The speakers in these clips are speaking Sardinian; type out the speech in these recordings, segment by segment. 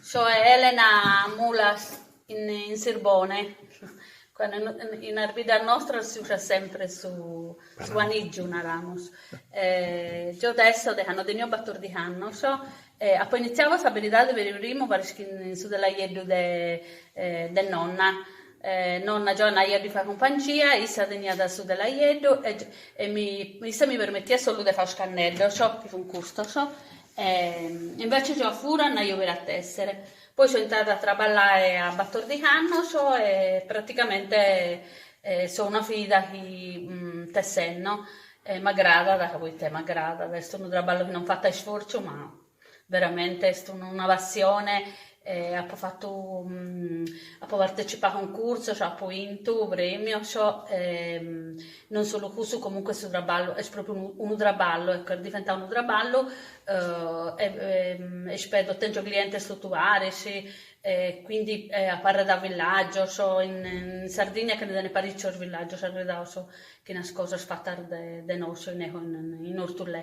Soe Elena Mulas in in Sirbone. Cando no in as biddas nostras si usat sempre su su anìgiu, naramus. Gio tesso de cando tenio batordixi annos apo initziadu a sa beridadi peri primu paris chi in su telaieddu de de nonna, E nonna gio annaio a ddi fai cumpangia, issa teniat su telaieddu e mi issa mi permetiat solu de fai is canneddos, ciò chi funt custos, e invece gio a fura annaio peri a tessere. Poi so intrada a traballai a batordichi annos e praticamente so una fida chi tessenno m'agradat ca poita m'agradat, est unu traballu chi non fato a isfortzu ma Veramente est una passione e apo fatu apo partecipau a cuncursos, apo intu premios e non solu cussu comunque su traballu est propriu unu unu traballu, ecco est diventau unu traballu e ispedo, tèngio clientes totu paris e quindi apo arredau villàgios, in Sardigna che ne tenet parìcios villàgios arredaus chin as cosas fatas de de nosu, in Orthullè.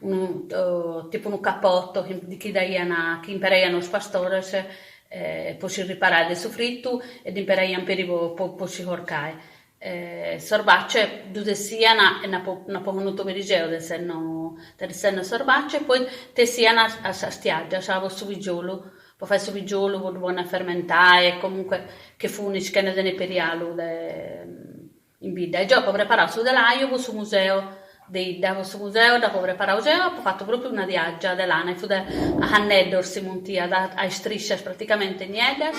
unu tipu unu capotto chi ddi daian chi imperaian is pastores po si riparai de su fritu e ddi imperaian peri po po si corcai s'orbace ddu tessian e n'apo n'apo connotu peri geo tessenno tessenno s'orbace e poi tessian sas tiaggias po su pigiolu po fai su pigiolu po ddu ponni a fermentai e comunque chi funi si che ne tenet peri alu de In bidda e gio apo preparau su telaiu po su museu de 'idda, po su museu dd'apo preparau geo, apo fatu pròpiu una tiàgia de lana e fut a canneddos si muntiat, a istriscias praticamente nieddas.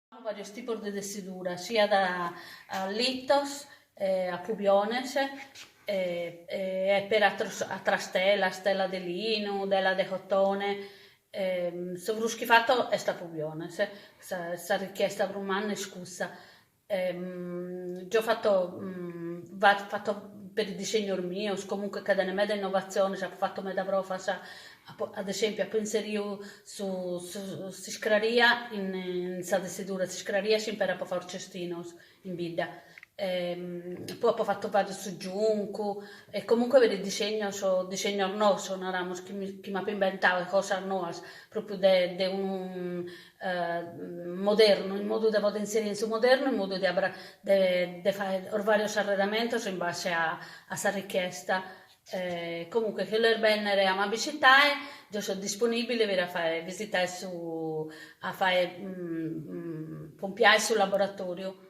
At varios tipos de tessidura, siat a litos, a pubiones e peri atros atras telas, tela de linu, tela de cotone, su prus chi fato est a pubiones, sa sa richiesta prus manna est cussa, gio fato fato peri disignos mios, comunque ca tenent meda innovatziones, apo fato meda provas Apo, ad esempio, apo inseriu su s'iscraria in sa tessidura, s'iscraria si imperat po fai os cestinos in bidda, poi apo fatu peri su giuncu e comunque peri disegnos disegnos noos, naramus, chi mi chi m'apo inventau e cosas noas, propriu de de unu modernu, in modu de podi inseri in su modernu, in modu de abra de de fai varios arredamentos in base a a sa richiesta Comunque, chi bolet bennere a m'abisitae, deo so disponibile per a fae visitae su a fae pompiae su laboratoriu.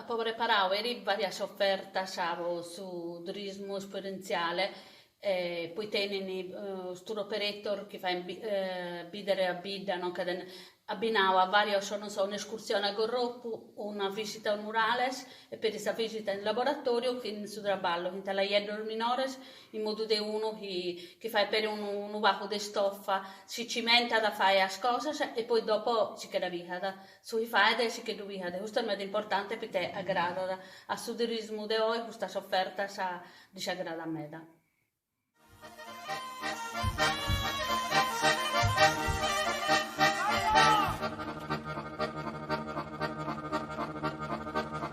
Apo preparadu peri varias ofertas po su turismu esperentziale, poi tenint is tour operator chi fait bidere a bidda, no, ca est abbinau a varios, non so, un'escursione a Gorropu, una visita a murales e peri sa visita in laboratoriu chi in su traballu fint laieddos minores in modu de unu chi fait peri unu pagu de istofa, si cimentat a fae is cosas e poi dopo si che dda pigat. Su chi faet e si che ddu leat, custu est meda importante poita agradat, a su turismu de oi custas ofertas ddis agradat meda.